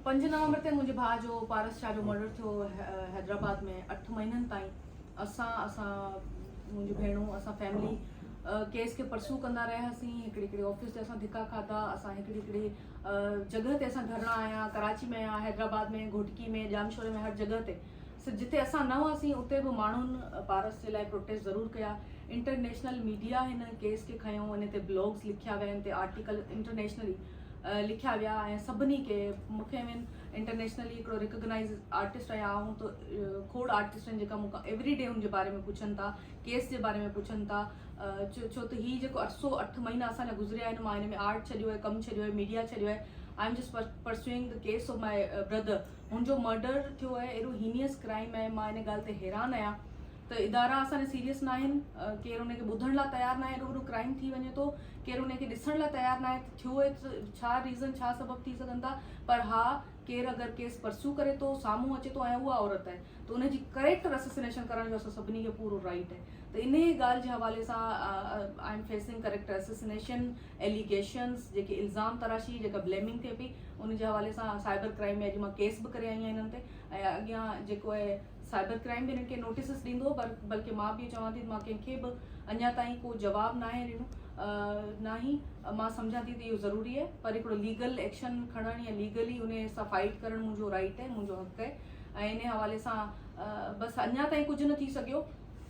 پنج نومبر تي منهنجي ڀاء جو پارس شاهه جو مرڊر ٿيو حيدرآباد ۾ اٺ مهينن تائين اسان اسان منهنجي ڀيڻون اسان فيملي ڪيس کي پرسو ڪندا رهياسين هڪڙي هڪڙي آفيس تي اسان ڌڪا کاڌا اسان هڪڙي هڪڙي جڳهه تي اسان ڌرڻا هنيا ڪراچي ۾ هنيا حيدرآباد ۾ گهوٽڪي ۾ ڄامشوري ۾ هر جڳهه تي جتي اسان نه هئاسين اتي به ماڻهن پارس جي لاء پروٽيسٽ ضرور ڪيا انٽرنيشنل ميڊيا هن ڪيس کي کنيو ان تي بلاگز لکيا ويا ان تي آرٽيڪل انٽرنيشنلي لکيا ويا ۽ سڀني کي مونکي ايون انٽرنيشنلي هڪڙو ريڪگنائيز آرٽسٽ آهيان آئون ته کوڙ آرٽسٽ آهن جيڪا مونکان ايوري ڊي ان جي باري ۾ پڇن ٿا ڪيس جي باري ۾ پڇن ٿا ڇو ته هي جيڪو عرصو اٺ مهينا اسان جا گذريا آهن مان هن ۾ آرٽ ڇڏيو آهي ڪم ڇڏيو آهي ميڊيا ڇڏيو آهي I am just pursuing the case of my brother هن جو مرڊر ٿيو آهي اهڙو هينيئس ڪرائم آهي مان هن ڳالهه تي حيران آهيان ته ادارا اسان ڏي سيريس ناهن، ڪير ان کي ٻڌڻ لاء تيار ناهي ايڏو وڏو ڪرائيم ٿي وڃي ٿو، ڪير ان کي ڏسڻ لاء تيار ناهي ته ٿيو اهي ته ڇا ريزن ڇا سبب ٿي سگهن ٿا پر ها ڪير اگر ڪيس پرسيو ڪري ٿو سامهون اچي ٿو ۽ اها عورت آهي ته ان جي ڪريڪٽر اسسنيشن ڪرڻ جو اسان سڀني کي پورو رائيٽ آهي ته انهي ڳالهه جي حوالي سان I am facing character assassination allegations جيڪي الزام تراشي جيڪا بليمنگ ٿئي پئي ان جي حوالي سان سائبر ڪرائيم ۾ اڄ مان ڪيس به ڪري آئي آهيان انهن تي ۽ اڳيان جيڪو اهي سائبر ڪرائيم به انهن کي نوٽيسز ڏيندو پر بلڪه مان به چوان ٿي ته مان ڪنهن کي به اڃا تائين ڪو جواب ناهي ڏنو ناهي مان سمجهان ٿي ته اهو ضروري آهي پر هڪڙو ليگل ايڪشن کڻڻ يا ليگلي ان سان فائيٽ ڪرڻ منهنجو رائيٽ آهي منهنجو حق آهي ۽ ان حوالي سان بس اڃا تائين ڪجهه نه ٿي سگهيو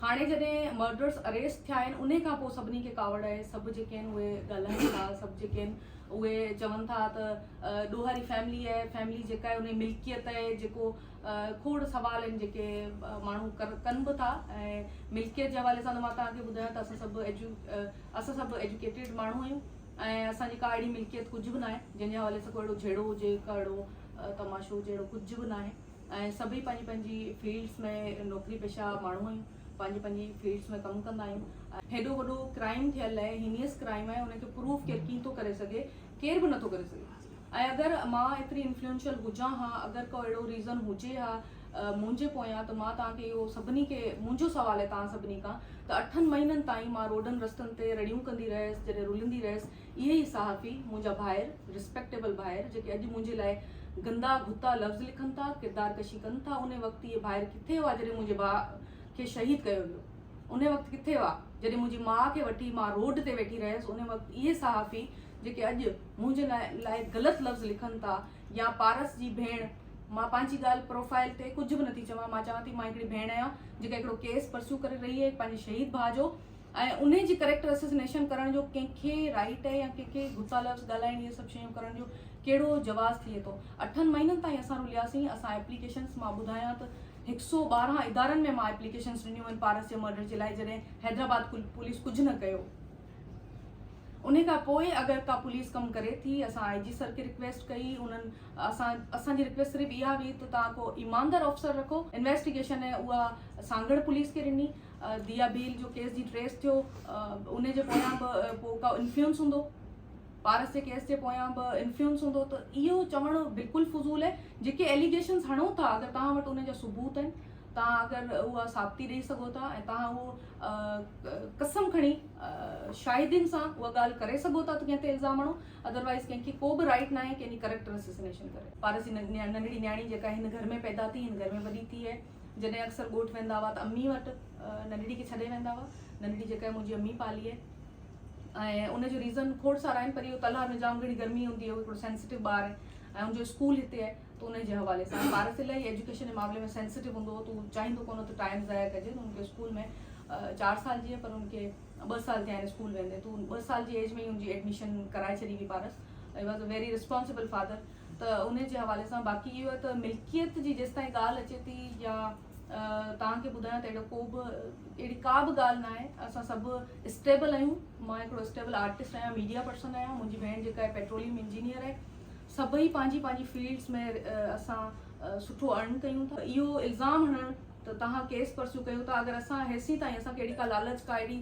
هاڻي جڏهن مرڊرس اريسٽ ٿيا آهن ان کان پوء سڀني کي ڪاوڙ آهي سڀ جيڪي آهن اهي ڳالهائين ٿا سڀ جيڪي آهن اهي چون ٿا ته ڏوهاري فيملي آهي فيملي جيڪا آهي ان جي ملڪيت آهي جيڪو کوڙ سوال آهن جيڪي ماڻهو ڪن به ٿا ۽ ملڪيت جي حوالي سان ته مان توهان کي ٻڌايو ته اسان سڀ اسان سڀ ايجوڪيٽيڊ ماڻهو آهيون ۽ اسان جي ڪا اهڙي ملڪيت ڪجهه به ناهي جنهن جي حوالي سان ڪو اهڙو جهيڙو هجي ڪا اهڙو تماشو هجي اهڙو ڪجهه به ناهي ۽ سڀئي پنهنجي پنهنجي فيلڊس ۾ نوڪري پيشه ماڻهو آهيون پنهنجي پنهنجي فيلڊس ۾ ڪم ڪندا آهيون هيڏو وڏو ڪرائيم ٿيل آهي هينيس ڪرائيم آهي ان کي پروف ڪير ڪين ٿو ڪري سگهي ڪير به نٿو ڪري سگهي. ۽ اگر مان ايتري انفلوئنشل هجان ها، اگر ڪو اهڙو ريزن هجي ها منهنجي پويان ته مان توهان کي اهو سڀني کي منهنجو سوال آهي توهان سڀني کان ته اٺن مهينن تائين مان روڊن رستن تي رڙيون ڪندي رهيس جڏهن رلندي رهيس اهي ئي صحافي منهنجا ڀائر رسپيڪٽيبل ڀائر جيڪي اڄ منهنجي لاء گندا گهتا لفظ لکن ٿا ڪردار ڪشي ڪن ٿا انهي وقت اهي ڀائر ڪٿي هئا جڏهن منهنجي ڀاء کي شهيد ڪيو ويو انهي وقت ڪٿي هئا جڏهن منهنجي ماء کي وٺي مان روڊ تي ويٺي رهيس انهي وقت اهي صحافي جيڪي اڄ منهنجي لاء غلط لفظ لکن ٿا يا پارس جي ڀيڻ مان پنهنجي ڳالهه پروفائل تي ڪجهه به نٿي چوان مان چوان ٿي مان هڪڙي ڀيڻ آهيان جيڪا هڪڙو ڪيس پرسيو ڪري رهي آهي پنهنجي شهيد ڀاء جو ۽ ان جي ڪريڪٽر اسسنيشن ڪرڻ جو ڪنهن کي رائيٽ آهي يا ڪنهن کي گھسا لفظ ڳالهائڻ اهي سڀ شيون ڪرڻ جو ڪهڙو جواز ٿئي ٿو اٺن مهينن تائين اسان رلياسين اسان ايپليڪيشنس مان ٻڌايان ته هڪ سو ٻارهن ادارن ۾ مان ايپليڪيشنس ڏنيون آهن پارس جي مرڊر جي لاء جڏهن حيدرآباد پوليس ڪجهه نه ڪيو انهي کان پوء اگر ڪا پوليس ڪم ڪري ٿي اسان آء جي سر کي رڪويسٽ ڪئي انهن اسان اسان جي رڪويسٽ صرف اها هئي ته توهان ڪو ايماندار آفيسر رکو انويسٽيگيشن ۽ اها سانگهڙ پوليس کي ڏني ديا ڀيل جو ڪيس جي ٽريس ٿيو انهي جي پويان به ڪو ڪا انفيونس هوندو پارس جي ڪيس جي پويان به انفيونس هوندو ته اهو چوڻ بلڪل فضول آهي جيڪي ايليگيشنس هڻو ٿا اگر توهان وٽ ان جا ثبوت آهن توهان اگر اها ثابتي ڏئي سگهو ٿا ۽ توهان اهو قسم کڻي شاهدين سان اها ڳالهه ڪري سگهو ٿا ته ڪنهن تي الزام هڻو ادروائز ڪنهن کي ڪو به رائيٽ ناهي ڪنهن جي ڪريڪٽر اسيسنيشن ڪري. پارس جي ننڍڙي نياڻي جيڪا هن گهر ۾ پيدا ٿي هن گهر ۾ وڏي ٿي هي جڏهن اڪثر ڳوٺ ويندا هئا ته امي وٽ ننڍڙي کي ڇڏي ويندا هئا ننڍڙي جيڪا هي منهنجي امي پالي هي ۽ ان جو ريزن کوڙ سارا آهن پر اهو تلهار ۾ جام گهڻي گرمي هوندي هي هو هڪڙو سينسٽيو ٻار هي ۽ ان جو اسڪول هتي آهي تون انهي جي حوالي سان پارس الائي ايجوڪيشن جي معاملي ۾ سينسيٽو هوندو هو تون چاهيندو ڪونه ته ٽائيم ضايع ڪجي تون ان کي اسڪول ۾ چار سال جيئي پر ان کي ٻه سال ٿيا آهن اسڪول ويندي تون ٻه سال جي ايج ۾ ئي ان جي ايڊميشن ڪرائي ڇڏي هئي Paras he was a very responsible father ته انهي جي حوالي سان باقي اهو ته ملڪيت جي جيستائين ڳالهه اچي ٿي يا توهان کي ٻڌايان ته اهڙو ڪو به اهڙي ڪا به ڳالهه نه آهي اسان سڀ اسٽيبل آهيون مان هڪڙو اسٽيبل آرٽسٽ آهيان ميڊيا پرسن آهيان منهنجي ڀيڻ جيڪا آهي پيٽروليم انجنيئر آهي سڀئي پنهنجي پنهنجي فيلڊز ۾ اسان سٺو ارن ڪيون ٿا. اهو الزام هڻڻ ته توهان ڪيس پرسيو ڪيو ٿا اگر اسان هيسين تائين اسان کي اهڙي ڪا لالچ ڪا اهڙي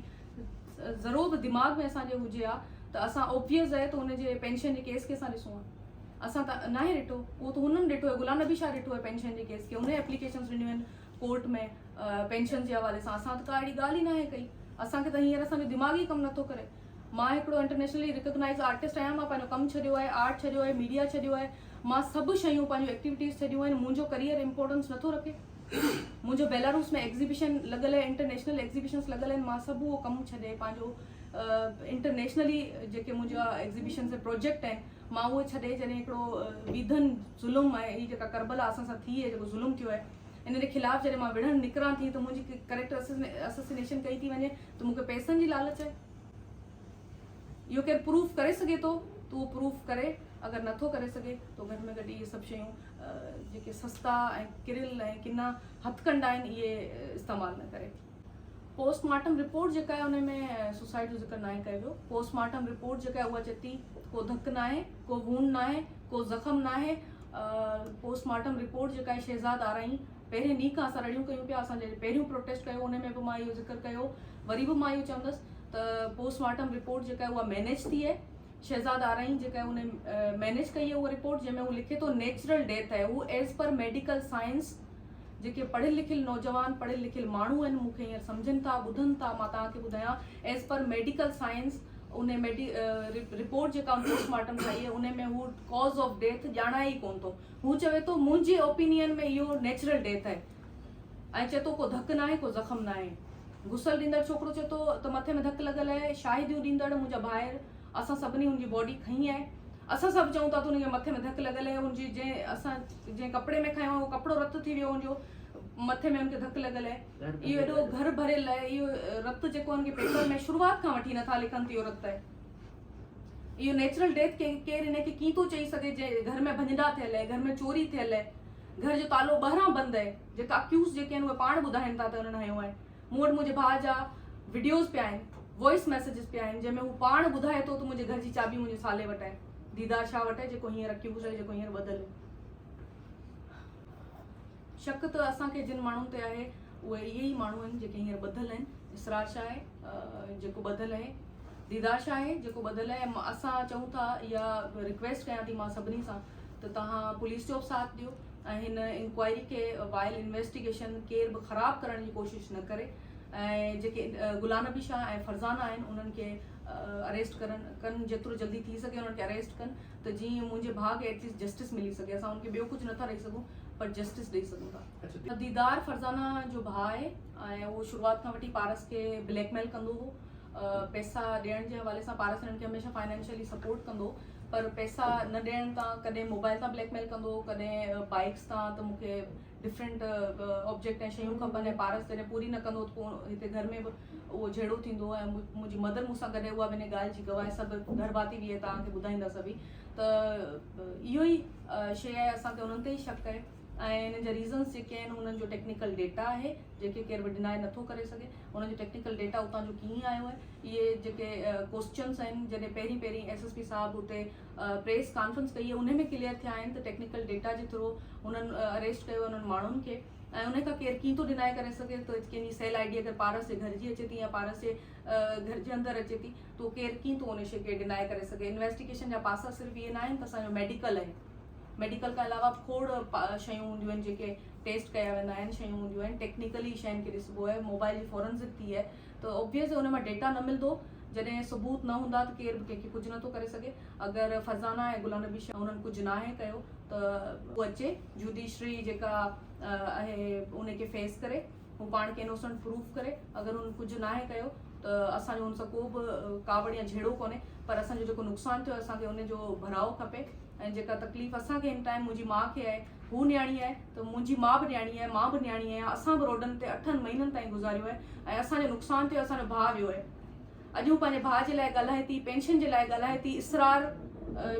ذرو به دماغ ۾ اسان جي هجي ها ته اسان او پي ايس ضيع ته هن جي پينشن جي ڪيس کي اسان ڏسون ها اسان ته ناهي ڏٺو اهو ته هنن ڏٺو آهي غلام نبي شاهه ڏٺو آهي پينشن جي ڪيس کي انهي ايپليڪيشنز ڏنيون آهن ڪورٽ ۾ پينشنز جي حوالي سان اسان ته ڪا اهڙي ڳالهه ئي ناهي ڪئي اسان کي ته هينئر اسان جو دماغ ئي ڪم نٿو ڪري. مان هڪڙو انٽرنيشنلي ريڪگنائيز آرٽسٽ آهيان مان پنهنجو ڪم ڇڏيو آهي آرٽ ڇڏيو آهي ميڊيا ڇڏيو آهي مان سڀ شيون پنهنجون ايڪٽيوٽيز ڇڏيون آهن منهنجو ڪريئر امپورٽنس نٿو رکي منهنجو بيلاروس ۾ ايگزيبيشن لڳل آهي انٽرنيشنل ايگزيبيشنس لڳل آهن مان سڀ اهو ڪم ڇڏي پنهنجو انٽرنيشنلي جيڪي منهنجا ايگزيبيشنس پروجيڪٽ آهن مان اهو ڇڏي جڏهن هڪڙو ويڌن ظلم آهي هي جيڪا کربلا اسان سان ٿي آهي جيڪو ظلم ٿيو آهي ان جي خلاف جڏهن مان وڙهڻ نڪران ٿي ته منهنجي ڪريڪٽر اسسنيشن ڪئي ٿي وڃي ته مون کي پئسن جي لالچ آهي. اهو ڪير پروف ڪري سگهي ٿو ته اهو پروف ڪري، اگر نه ٿو ڪري سگهي ته گهٽ ۾ گهٽ اهي سڀ شيون جيڪي سستا ۽ ڪريل ۽ ڪنا هٿڪنڊا آهن اهي استعمال نه ڪري. پوسٽ مارٽم رپورٽ جيڪا آهي ان ۾ سوسائيڊ جو ذڪر ناهي ڪيو ويو. پوسٽ مارٽم رپورٽ جيڪا آهي اها چئي ٿي ته ڪو ڌڪ ناهي، ڪو وونڊ ناهي، ڪو زخم ناهي. پوسٽ مارٽم رپورٽ جيڪا آهي شهزاد آرائين، پهرين ڏينهن کان اسان رڙيون ڪيون پيا، اسان جڏهن پهريون پروٽيسٽ ڪيو ان ۾ به مان اهو ذڪر ڪيو هو، وري به مان اهو چوندس ته پوسٽ مارٽم رپورٽ جيڪا آهي اها مينيج ٿي آهي، شهزاد آرائين جيڪا آهي ان مينيج ڪئي آهي اها رپورٽ جنهن ۾ هو لکي ٿو نيچرل ڊيٿ آهي اهو ايز پر ميڊيڪل سائنس جيڪي پڙهيل لکيل نوجوان پڙهيل لکيل ماڻهو آهن مون کي هينئر سمجهن ٿا ٻڌن ٿا مان توهان کي ٻڌايان ايز پر ميڊيڪل سائنس ان رپورٽ جيڪا پوسٽ مارٽم ٺاهي آهي ان ۾ هو ڪاز آف ڊيٿ ڄاڻائي ئي ڪونه ٿو هو چوي ٿو منهنجي اوپينين ۾ اهو نيچرل ڊيٿ آهي ۽ چئي ٿو ڪو ڌڪ ناهي ڪو زخم ناهي. غسل ڏيندڙ ڇوڪرو چئي ٿو ته مٿي ۾ ڌڪ لڳل آهي، شاهديون ڏيندڙ منهنجا ڀائر اسان سڀني هن جي باڊي کنئي آهي، اسان سڀ چئون ٿا ته هن جي مٿي ۾ ڌڪ لڳل آهي، هن جي جنهن اسان جنهن ڪپڙي ۾ کنيو اهو ڪپڙو رت ٿي ويو هن جو مٿي ۾ هن کي ڌڪ لڳل آهي، اهو ايڏو گهر ڀريل آهي، اهو رت جيڪو هن کي پيپر ۾ شروعات کان وٺي نٿا لکن ته اهو رت آهي. اهو نيچرل ڊيٿ ڪي ڪير ان کي ڪين ٿو چئي سگهي جنهن گهر ۾ ڀڃنڊا ٿيل اهي گهر ۾ چوري ٿيل اهي گهر جو تالو ٻهران بند اهي جيڪا اڪيوز جيڪي آهن اهي پاڻ ٻڌائين ٿا ته انهن هنيو آهي مون وٽ منهنجي ڀاء جا وڊيوز پيا آهن وائس ميسيجز پيا آهن جنهن ۾ هو پاڻ ٻڌائي ٿو ته منهنجي گهر جي چاٻي منهنجي سالي وٽ آهي ديدار شاهه وٽ آهي جيڪو هينئر اڪيوز آهي جيڪو هينئر ٻڌل شڪ ته اسان کي جن ماڻهن تي آهي اهي اهي ئي ماڻهو آهن جيڪي هينئر ٻڌل آهن اسرار شاهه آهي جيڪو ٻڌل آهي ديدار شاهه آهي جيڪو ٻڌل آهي اسان چئون ٿا يا رڪويسٽ ڪيان ٿي مان سڀني سان ته تهان پوليس جو به ساٿ ڏيو ۽ هن انڪوائري کي وائل انويسٽيگيشن ڪير به خراب ڪرڻ جي ڪوشش نه ڪري ۽ جيڪي گلان نبي شاهه ۽ فرزانه آهن انهن کي اريسٽ ڪرن ڪن جيترو جلدي ٿي سگهي انهن کي اريسٽ ڪن ته جيئن منهنجي ڀاء کي ايٽليسٽ جسٽس ملي سگهي. اسان هن کي ٻيو ڪجهه نٿا ڏئي سگهون پر جسٽس ڏئي سگهون ٿا. ديدار فرزانه جو ڀاء آهي ۽ اهو شروعات کان وٺي پارس کي بليڪ ميل ڪندو هو. پئسا ڏيڻ جي حوالي سان پارس هنن کي هميشه فائنانشلي سپورٽ ڪندو هو پر پئسا نه ڏيڻ تان ڪڏهن موبائل تان بليڪ ميل ڪندو هو ڪڏهن بائڪس تان ته مون کي ڊفرنٽ آبجيڪٽ ۽ شيون کپن ۽ پارس جڏهن پوري نه ڪندو ته پوء هتي گهر ۾ به اهو جهيڙو ٿيندو ۽ منهنجي مدر مون سان گڏ اها به ان ڳالهه جي گواهه سڀ گهر ڀاتي به ائين توهان کي ٻڌائيندا سڀئي ته اهو ئي شيء آهي اسان کي انهن تي ئي شڪ آهي ۽ ان جا ريزنس جيڪي آهن انهن جو ٽيڪنيڪل ڊيٽا آهي جيڪي ڪير به ڊناء نٿو ڪري سگهي انهن جو ٽيڪنيڪل ڊيٽا اتان جو ڪيئن آيو آهي اهي جيڪي ڪوسچنس آهن جڏهن پهرين پهرين ايس ايس پي صاحب اتي پريس ڪانفرنس ڪئي انهي ۾ ڪليئر ٿيا آهن ته ٽيڪنيڪل ڊيٽا جي ٿرو هنن اريسٽ ڪيو انهن ماڻهن کي ۽ ان کان ڪير ڪيئن ٿو ڊناء ڪري سگهي ته ڪنهن جي سيل آئي ڊي اگر پارس جي گهر جي اچي ٿي يا پارس جي گهر جي اندر اچي ٿي تو ڪير ڪيئن ٿو ان شي کي ڊناء ڪري سگهي انويسٽيگيشن جا پاسا صرف اهي ناهن ته اسان جو ميڊيڪل آهي ميڊيڪل کان علاوه کوڙ شيون هونديون آهن جيڪي ٽيسٽ ڪيا ويندا آهن شيون هونديون آهن ٽيڪنيڪلي شين کي ڏسبو آهي موبائل جي فورنزڪ ٿي آهي ته اوبويئس ان مان ڊيٽا نه ملندو، جڏهن ثبوت نه هوندا ته ڪير به ڪنهن کي ڪجهه نه ٿو ڪري سگهي، اگر فرزانه ۽ گلان نبي شاهه انهن ڪجهه ناهي ڪيو ته. هو اچي جوڊيشري جيڪا اهي انهي کي فيس ڪري هو پاڻ کي انوسنٽ پروف ڪري اگر هن ڪجهه ناهي ڪيو ته اسان جو هن سان ڪو به ڪاوڙ يا جهيڙو ڪونهي پر اسان جو جيڪو نقصان ٿيو اسان کي ان جو ڀراء کپي. ۽ جيڪا تڪليف اسان کي هن ٽائيم منهنجي ماء کي آهي هو نياڻي آهي ته منهنجي ماء به نياڻي آهي مان به نياڻي آهيان اسان به روڊن تي اٺن مهينن تائين گذاريو آهي ۽ اسان جو نقصان ٿيو اسان جو ڀاء ويو آهي اڄ هو پنهنجي ڀاء جي لاء ڳالهائي ٿي پينشن جي لاء ڳالهائي ٿي اسرار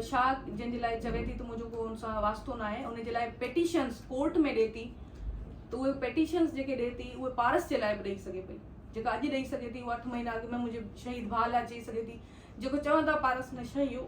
شاهه جنهن جي لاء چوي ٿي ته منهنجو ڪو ان سان واسطو نه آهي ان جي لاء پيٽيشنس ڪورٽ ۾ ڏي ٿي ته اهي پيٽيشنس جيڪي ڏي ٿي اهي پارس جي لاء به ڏئي سگهي پئي جيڪا اڄ ڏئي سگهي ٿي اهو اٺ مهينا اڳ ۾ منهنجي شهيد ڀاء لاء چئي سگهي ٿي جيڪو چون ٿا پارس ۾ شهيو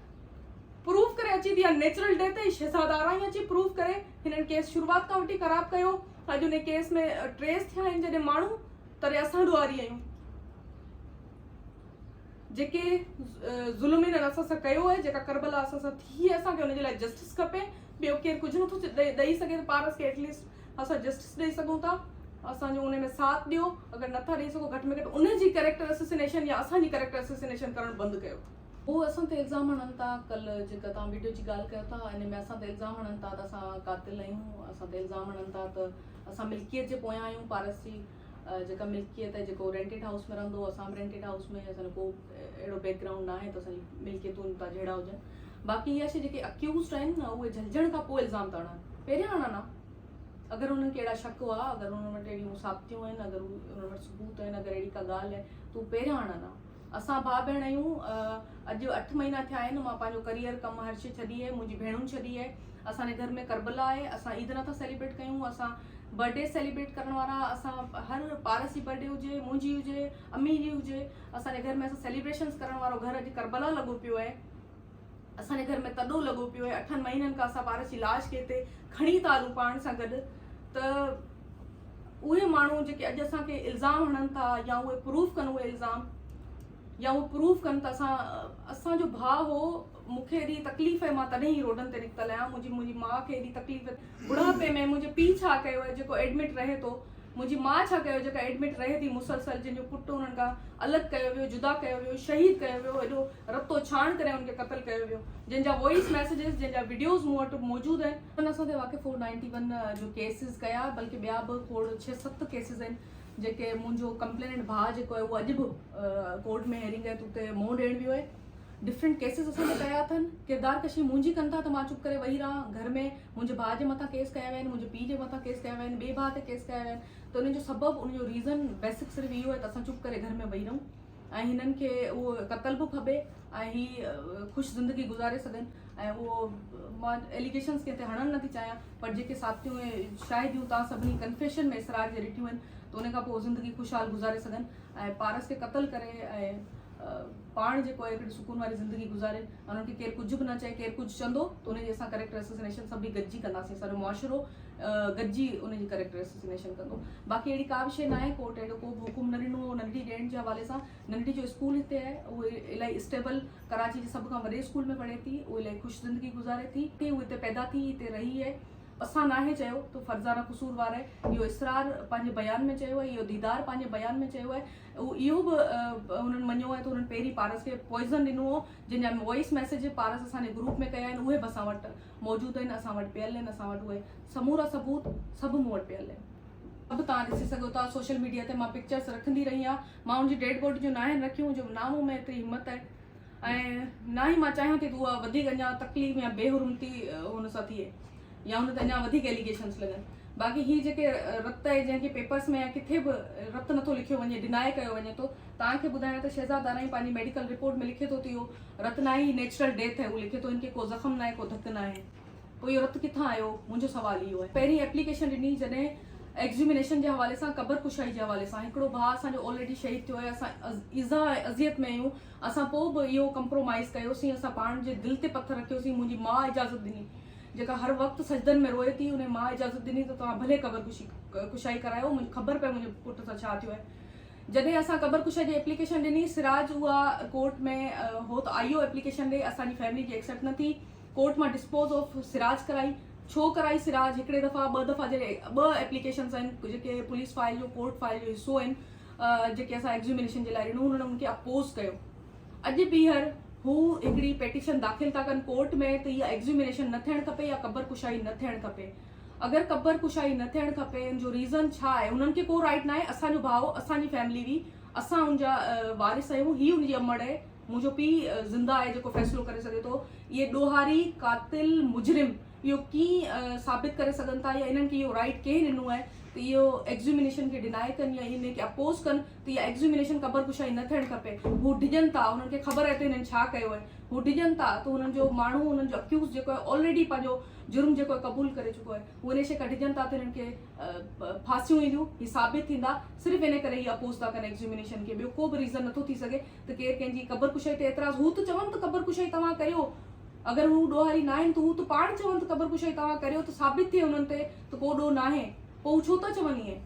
پروف ڪري اچي ٿي يا نيچرل ڊيٿ ۽ شهزاد آرائين اچي پروف ڪري هنن ڪيس شروعات کان وٺي خراب ڪيو اڄ ان ڪيس ۾ ٽريس ٿيا آهن جڏهن ماڻهو تڏهن اسان ڏوهاري آهيون جيڪي ظلم هنن اسان سان ڪيو آهي جيڪا کربلا اسان سان ٿي آهي اسان کي ان جي لاء جسٽس کپي ٻيو ڪير ڪجهه نٿو ڏئي سگهي ته پارس کي ايٽليسٽ اسان جسٽس ڏئي سگهون ٿا اسان جو ان ۾ ساٿ ڏيو اگر نٿا ڏئي سگهو گهٽ ۾ گهٽ ان جي ڪريڪٽر اسسينيشن يا اسان جي ڪريڪٽر اسسينيشن ڪرڻ بند ڪيو هو اسان تي الزام هڻن ٿا ڪل جيڪا توهان ويڊيو جي ڳالهه ڪيو ٿا ان ۾ اسان تي الزام هڻن ٿا ته اسان قاتل آهيون اسان تي الزام هڻن ٿا ته اسان ملڪيت جي پويان آهيون پارس جي جيڪا ملڪيت آهي جيڪو رينٽيڊ هائوس ۾ رهندو اسان به رينٽيڊ هائوس ۾ اسان جو ڪو اهڙو بيڪ گرائونڊ ناهي ته اسان جي ملڪيتون هتان جهيڙا هجن باقي اها شي جيڪي اڪيوزڊ آهن نه اهي جهلجڻ کان پوء الزام ٿا هڻن پهريان هڻن ها اگر انهن کي اهڙا شڪ هئا اگر انهن وٽ اهڙيون ثابتيون آهن اگر انهن وٽ ثبوت آهن اگر اهڙي ڪا ڳالهه آهي ته هو پهريان هڻن ها اسان ڀاء ڀيڻ آهيون. اڄ اٺ مهينا ٿيا آهن مان پنهنجو ڪريئر، ڪم هر شي ڇڏي آهي. منهنجي ڀيڻن ڇڏي آهي. اسان جي گهر ۾ ڪربلا آهي. اسان عيد نٿا سيليبريٽ ڪيون. اسان برٿڊي سيليبريٽ ڪرڻ وارا اسان هر پارس جي برٿڊي هجي، منهنجي هجي، امي جي هجي اسان جي گهر ۾ اسان سيليبريشنز ڪرڻ وارو گهر اڄ ڪربلا لڳو پيو آهي. اسان جي گهر ۾ تڏو لڳو پيو آهي اٺن مهينن کان اسان پارس جي لاش کي هتي کڻي ٿا هلون پاڻ سان گڏ ته اهي ماڻهو جيڪي اڄ اسان کي الزام هڻن ٿا يا اهي پروف ڪن اهي الزام يا اهي پروف ڪن ته اسان اسانجو ڀاء هو مونکي ايڏي تڪليف آهي مان تڏهن ئي روڊن تي نڪتل آهيان منهنجي منهنجي ماء کي ايڏي تڪليف بڙهاپي ۾ منهنجي پيء ڇا ڪيو آهي جيڪو ايڊمٽ رهي ٿو منهنجي ماء ڇا ڪيو جيڪا ايڊمٽ رهي ٿي مسلسل جنهن جو پٽ انهن کان الڳ ڪيو ويو جدا ڪيو ويو شهيد ڪيو ويو ايڏو رتو ڇاڻ ڪري هن کي قتل ڪيو ويو جنهن جا وائيس ميسيجز جنهن جا وڊيوز مون وٽ موجود آهن. هن اسان تي واقع فور نائنٽي ون جو ڪيسز ڪيا بلڪه ٻيا به کوڙ ڇهه ست ڪيسز آهن جيڪي منهنجو ڪمپليننٽ ڀاء جيڪو آهي اهو اڄ به ڪورٽ ۾ هيرنگ آهي ته اتي منهن ڏيڻ ويو آهي ڊفرنٽ ڪيسز اسان تي ڪيا اٿن ڪردار ڪشي منهنجي ڪن ٿا ته مان چپ ڪري ويهي رهان گهر ۾ منهنجي ڀاء جي مٿان ڪيس ڪيا ويا آهن منهنجي پيء جي مٿان ڪيس ڪيا ويا آهن ٻئي ڀاء تي ڪيس ڪيا ويا آهن ته ان جو سبب ان جو ريزن بيسڪ صرف اهو آهي ته اسان چپ ڪري گهر ۾ ويهي رهون ۽ هنن کي اهو قتل به ڦٻي ۽ هي خوش زندگي گذاري سگهن ۽ اهو مان ايليگيشنس ڪنهن تي هڻڻ نٿي چاهيان پر جيڪي ثابتيون ۽ شاهديون توهان سڀني ڪنفيشن ۾ اسرار جي ڏٺيون آهن ته ان کان پوء زندگي خوشحال گذاري سگهن ۽ پارس کي قتل ڪري ۽ پاڻ جيڪو آهي هڪڙي سڪون واري زندگي گذارين انهن کي ڪير ڪجهه به نه چئي ڪير ڪجهه چوندو ته ان جي اسان ڪريڪٽر اسسنيشن سڀئي گڏجي ڪنداسين سارو معاشرو گڏجي ان جي ڪريڪٽر اسسينيشن ڪندو باقي اهڙي ڪا به شيء ناهي ڪورٽ اهڙو ڪو به حڪم نه ڏنو هو ننڍڙي ڏيڻ جي حوالي سان ننڍڙي جو اسڪول هتي آهي اهو الائي اسٽيبل ڪراچي جي سڀ کان وڏي اسڪول ۾ پڙهي ٿي اهو الائي خوش زندگي گذاري ٿي هو هتي پيدا ٿي هتي رهي آهي اسان ناهي چيو ته فرزانه قصور وار آهي اهو اسرار پنهنجي بيان ۾ چيو آهي اهو ديدار پنهنجي بيان ۾ چيو آهي اهو اهو به هنن مڃيو آهي ته هنن پهرين پارس کي پوائزن ڏنو هو جن جا وائس ميسيج پارس اسان جي گروپ ۾ ڪيا آهن اهي به اسان وٽ موجود آهن، اسان وٽ پيل آهن، اسان وٽ اهي سمورا ثبوت سڀ مون وٽ پيل آهن. سڀ توهان ڏسي سگهو ٿا، سوشل ميڊيا تي مان پڪچرس رکندي رهي آهيان، مان ان جي ڊيڊ باڊي جو ناهن رکيون جو نه مون ۾ ايتري همت آهي ۽ نه ئي مان چاهيان ٿي ته اها وڌيڪ اڃا تڪليف يا بي حرمتي ان سان ٿئي يا ان تي اڃا وڌيڪ ايليگيشنس لڳن باقي هي جيڪي رت آهي جنهن کي پيپرس ۾ يا ڪٿي به رت نٿو لکيو وڃي ڊناء ڪيو وڃي ٿو توهان کي ٻڌايان ته شهزاد دارائي پنهنجي ميڊيڪل رپورٽ ۾ لکي ٿو ته اهو رت ناهي هي نيچرل ڊيٿ آهي هو لکي ٿو هن کي ڪو زخم ناهي ڪو ڌڪ ناهي پوء اهو رت ڪٿان آيو منهنجو سوال اهو آهي پهرين ايپليڪيشن ڏني جڏهن ايڪزيومينيشن جي حوالي سان قبر ڪشائي جي حوالي سان هڪڙو ڀاء اسان جو آلريڊي شهيد ٿيو آهي اسان ايذاء ۽ اذيت ۾ آهيون اسان پوء به اهو ڪمپرومائيز ڪيوسين اسان پاڻ جي دل تي پٿر رکيوسين منهنجي ماء اجازت ڏني جيڪا هر وقت سجدن ۾ روئي ٿي انهي ماء اجازت ڏني ته توهان ڀلي قبر ڪشي ڪشائي ڪرايو مون کي خبر پئي منهنجي پٽ سان ڇا ٿيو آهي جڏهن اسان قبر ڪشا جي ايپليڪيشن ڏني سراج اها ڪورٽ ۾ هو ته آئيو ايپليڪيشن ڏي اسان جي فيملي جي ايڪسيپٽ نه ٿي ڪورٽ مان ڊسپوز آف سراج ڪرائي ڇو ڪرائي سراج هڪڙي دفعا ٻه دفعا جڏهن ٻه ايپليڪيشنز آهن جيڪي پوليس فائل جو ڪورٽ فائل جو حصو آهن جيڪي اسان ايگزيومينيشن جي لاء ڏنو هن ان کي اپوز ڪيو اڄ ٻيهر هو هڪڙي پيٽيشن داخل ٿا ڪن ڪورٽ ۾ ته اها ايگزيومينيشن نه ٿيڻ کپي يا قبر ڪشائي نه ٿيڻ کپي اگر قبر ڪشائي نه ٿيڻ کپي ان جو ريزن ڇا آهي انهن کي ڪو رائيٽ ناهي اسان جو ڀاء اسان جي فيملي هئي اسان ان جا وارث آهيون هي ان جي امڙ اهي منهنجو پي زنده آهي جيڪو فيصلو ڪري سگهي ٿو اهي ڏوهاري قاتل مجرم اهو ڪين ثابت ڪري سگهن ٿا يا انهن کي اهو رائيٽ ڪنهن ڏنو آهي ته اهو ايگزيومينيشن کي ڊناء ڪن يا ان کي اپوز ڪن ته اها ايگزيومينيشن قبر ڪشائي نه ٿيڻ کپي هو ڊڄن ٿا انهن کي خبر آهي ته هنن ڇا ڪيو آهي هو ڊڄن ٿا ته هنن جو ماڻهو هنن جو اڪيوز جيڪو آهي آلريڊي پنهنجو جرم جيڪو قبول ڪري چڪو آهي هو انيشي ڪڍجن ٿا ته هنن کي ڦاسيون اينديون هي ثابت ٿيندا صرف ان ڪري هي اپوز ٿا ڪن ايڪزيومينيشن کي ٻيو ڪو به ريزن نٿو ٿي سگهي ته ڪير ڪنهن جي قبر ڪشائي تي اعتراض هو ته چون ته قبر ڪشائي توهان ڪريو اگر هو ڏوهاري ناهن ته هو ته پاڻ چون ته قبر ڪشائي توهان ڪريو ته ثابت ٿئي انهن تي ته ڪو ڏوهه ناهي پوء هو ڇو ٿا چون ائين